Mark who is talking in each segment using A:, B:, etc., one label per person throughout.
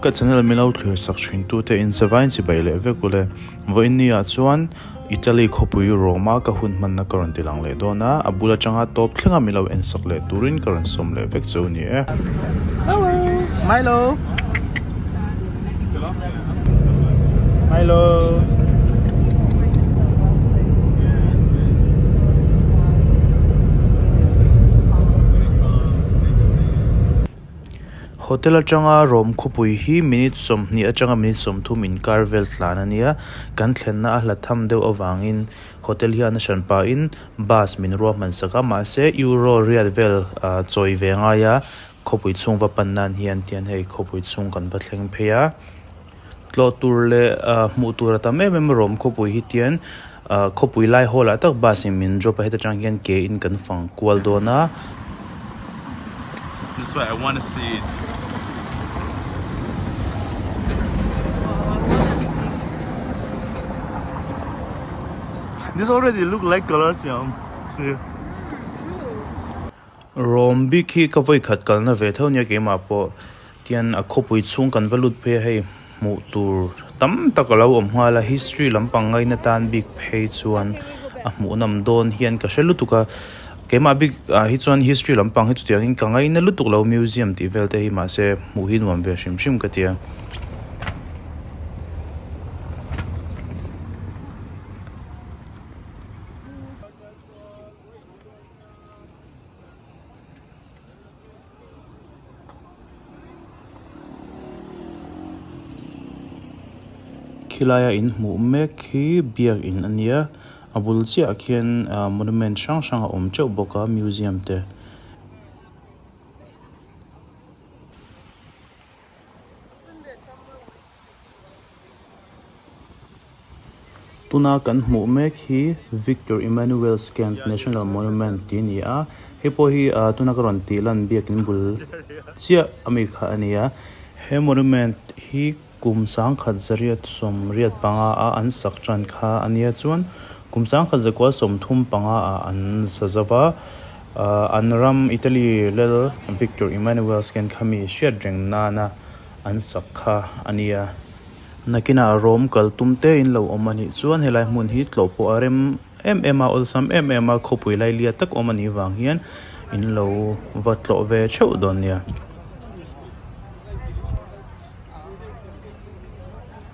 A: Ka channel min lo thlir sak thin tu te in zavai nchi bai leh vek ule. Vawiinni ah chuan Italy khawpui Roma ka hun hman na ka rawn ti lang leh dawn a, a bul atanga tawp thleng a min lo en sak leh tur in ka rawn sawm leh vek chu ni e. Hello Milo Milo. Hotel atanga rawm khawpui hi minute sawmhnih atanga minute sawmthum inkar vel tlan a nia. Kan thlenna a hla tham deuh avangin hotel hi a nahran pahin bus min ruah hmansak a. Mahse, euro riat vel chawi ve ngai a, khawpui chhung va pan nan hian tian hei khawpui chhung kan va thleng phei a. Tlawh tur leh hmuh tur a tam em em a rawm khawpui hi tian khawpui lai hall ah tak bus in min drop a heta tang hian ke in kan fang kual dawn a that's why I wanna see it this already look like Colosseum see rawm bik hi ka vawi khat kalna ve tho nia keimah pawh Tian a khawpui chhung kan va lut phei a hei hmuh tur tam tak a lo awm nghal a, history lam pang ngaina tan bik phei chuan a hmuh nam dawn hian ka hre lutuk a, keimah bik ah hi chuan history lam pang hi chutiang in ka ngaina lutuk lo museum tih vel te hi mahse hmuh hi nuam ve hrim hrim ka ti a. Khilai a in hmuh mek khi biak in a nia, a bul chiah khian ahh monument hrang hrang a awm teuh bawk a, museum te. Tuna kan hmuh mek hi Victor Emmanuel's Camp National Monument tih a ni a, hei pawh hi tuna ka rawn tih lan biakin bul chiah a mi kha a ni a. He monument hi kum sangkhat zariat sawm riat panga a an sak tan kha a nia chuan kum sangkhat zakual sawm thum panga ah an sa zo va, an ram Italy lel Victor Emmanuel's Camp kha mi hriat reng nana. An sak kha a nia. Nakinah rawm kal tum te in lo awm a nih chuan helai hmun hi tlawh pawh a rem em em a, awlsam em em a, khawpui lailiat tak awm a nih vang hian in lo va tlawh ve theuh dawn nia.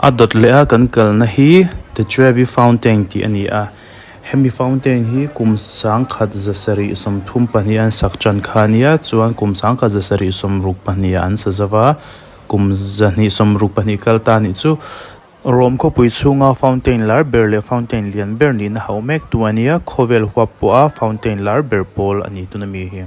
A: A dawt leh a kan kalna hi The Trevi Fountain tih a ni a, hemi fountain hi kum sangkhat za sarih sawm thum pahnih an sak tan kha a nia, chuan kum sangkhat za sarih sawm ruk pahnih ah an sa zauh a, kum zahnih sawm ruk pahnih kal ta nih chu. Rome khawpui chhunga fountain lar ber leh fountain lian ber nihna hauh mek tu a nia, khawvel huap pawha fountain lar ber pawl a ni tun a mi hi.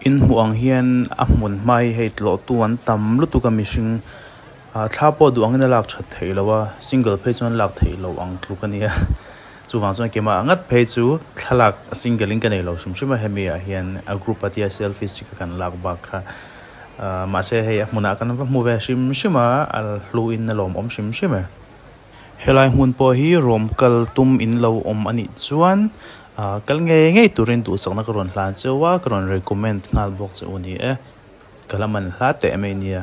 A: Inhmuh ang hian a hmun hma hi hei tlawhtu an tam lutuk a mihring ah thla pawh duh angin a lak that theih lo a single phei chuan lak theih loh ang tluk a ni a chuvang chuan kema ah ngat phei chu thlalak single in ka nei lo hrim hrim a hemi ah hian a group a tia selfie si ka kan lak bak kha. Mahse hei a hmunah kan va hmu ve hrim hrim a, a hlu in a lawm awm hrim hrim e. Helai hmun pawh hi rawm kal tum in lo awm a nih chuan kal ngei ngei turin duhsakna ka rawn hlan cheu a, ka rawn recommend nghal bawk che u ni e, ka la man hla teh mai nia.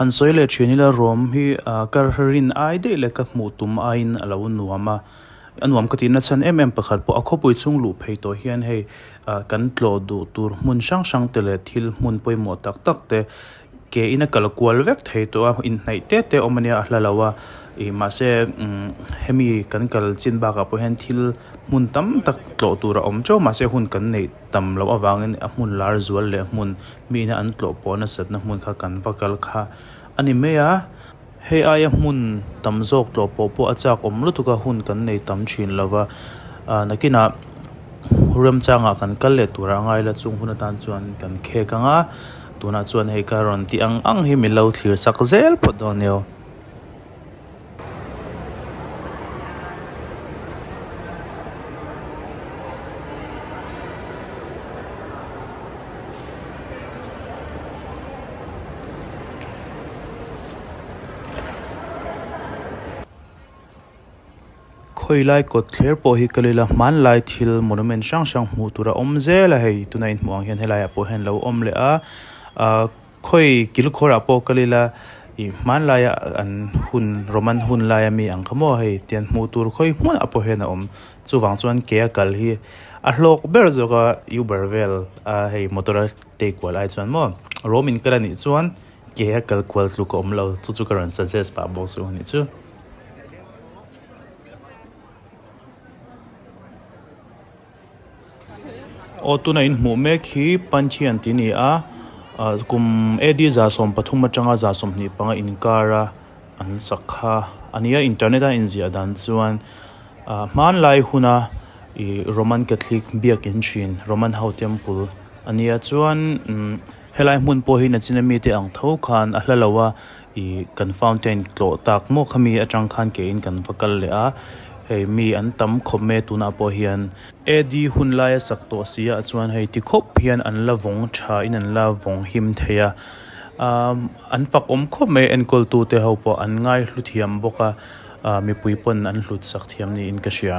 A: Han sawi leh thin ila ruam hi ah kar rin ai daih leh ka hmuh tum aiin a lo nuam a, a nuam ka tihna chhan em em pakhat pawh a khawpui chung luh phei tawh hian hei ah kan tlawh duh tur hmun hrang hrangte leh thil hmun pawimawh tak tak te, ke in a kal kual vek thei tawh a inhnaih te te awm ania a hla lo a ih mahse hemi kan kal chin bakah pawh hian thil hmun tam tak tlawh tur a awm teuh mahse hun kan neih tam loh avangin a hmun lar zual leh hmun mihna an tlawh pawh nasatna hmun kha kan va kal kha a ni mai a. Hei aia hmun tam zawk tlawh pawh pawh a chak awm lutuk a, hun kan nei tam thin lo va, a nakinah Remchanga kan kal leh turah a ngai la chung hun atan chuan kan khek ang a, tunah chuan hei ka rawn ti ang ang hi min lo thlir sak zel phawt dawn nia. Khawilai kawt thler pawh hi Kalila hmanlai thil monument hrang hrang hmuh tur a awm zel a, hei tuna inhmuh ang hian helaiah pawh hian lo awm leh a ah khawi kilkhawrah pawh Kalila ih hmanlaia an hun Roman hun laia mi ang kha maw hei tian hmuh tur khawi hmunah pawh hian a awm chuvang chuan ke a kal hi a hlawk ber zawk a uber vel a hei motor a-- Tei kual ai chuan maw rom in kal anih chuan ke a kal kual tluk a awm lo chu chu ka rawn suggest pah bawk chu ni chu. Aw tuna in hmuh mek hi Panchi an ti ni a, kum AD za sawm pathum atanga za sawm hnih panga inkara an sak kha a nia internet a inziah dan chuan hmanlai huna Roman Catholic biakin thin Roman ho temple, A nia chuan umm helai hmun pawh hi Nachina mite ang tho khan a hla lo a, ih kan fountain tlawh tak maw kha mi atang khan ke in kan va kal leh a, hei mi an tam khawp mai tunah pawh hian. AD hun laia sak tawh siah chuan hei ti khawp hian an la vawng tha in an la vawng him thei a, umm an fak awm khawp mai enkawl tu te ho pawh an ngaihlu thiam bawk a, ah mipui pawn an hlut sak thiam niin ka hria.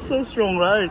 A: so strong right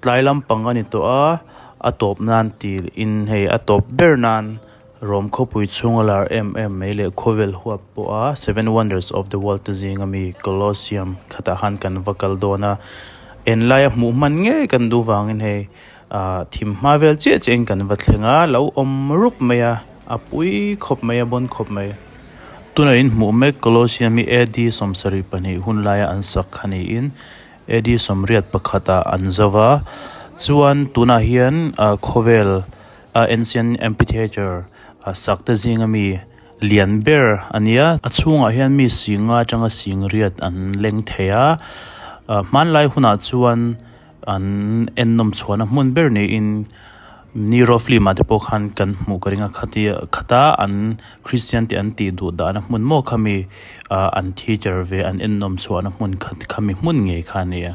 A: Tlai lampang a ni tawh a, a tawp nan ti in hei a tawp ber nan rawm khawpui chhung a lar em em mai leh khawvel huap pawh a seven wonders of the world te zing a mi Colosseum khatah khan kan va kal dawn a, en laia hmuh hman ngei kan duh vangin hei ah thim hma vel chiah chiah in kan va thleng a, lo awm rup mai a, a pui khawp mai a bawn khawp mai. Tuna in hmuh mek Colosseum hi AD sawmsarih pahnih hun laia an sak a ni in, Eddie sawmriat pakhata an zau va, chuan tunah hian khawvel a ancient amphitheatre a sakte zinga mi lian ber a nia. A chhungah hian mi singa tanga singriat an leng thei a, hmanlai hunah chuan an ennawm chhuahna hmun ber niin, Niro film ah te pawh khan kan hmuh ka ringa khat hi khat a an Christian te an tih duh dahna hmun maw khami ah an thi cher ve an ennawm chhuahna hmun khat khami hmun nge kha nia.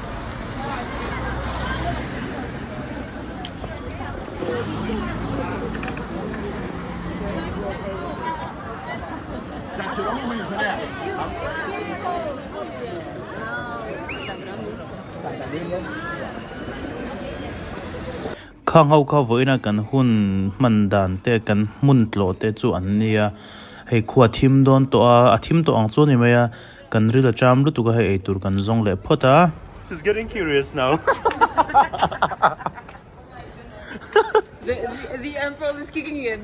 A: Kha ngho kha vawiin a kan hun hman dan te kan hmun tlawh te chu an ni a hei khuathim dawn tawha a thim tawh ang chu a ni mai a. Kan ril a ṭam lutuk a hei eitur kan zawng leh phawt a. She's getting curious now. The emperor is kicking again.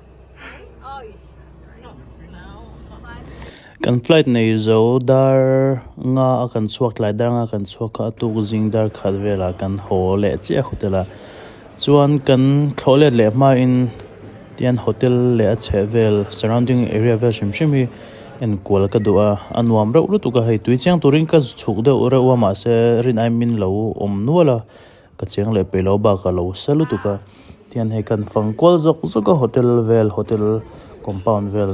A: Kan flight nei zo dar nga a kan chhuak tlai dar nga kan chhuak kha a tuk zing dar khat vela kan haw leh chiah hotel a chuan kan thlawh let leh hma in tian hotel leh a chheh vel surrounding area vel hrim hrim hi enkual ka duh a a nuam reuh lutuk a hei tui chiang turin ka chhuk deuh reuh a mahse rin aimin lo awm nual a. Ka cheng leh peih lo bak a lo sa lutuk a, tian hei kan fang kual zawk zawk a hotel vel hotel compound vel.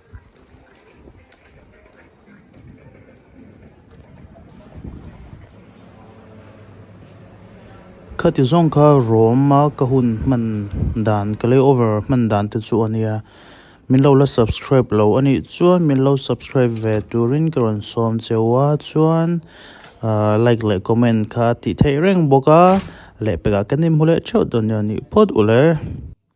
A: Khati zawng kha Rome a ka hun hman dan ka lay over hman dan te chu ania min lo la subscribe lo anih chuan min lo subscribe ve turin ka rawn sawm cheu a chuan ah like leh comment kha a tih theih reng bawk a lehpek ah ka nim hu leh theuh dawn nia nih phawt uleh.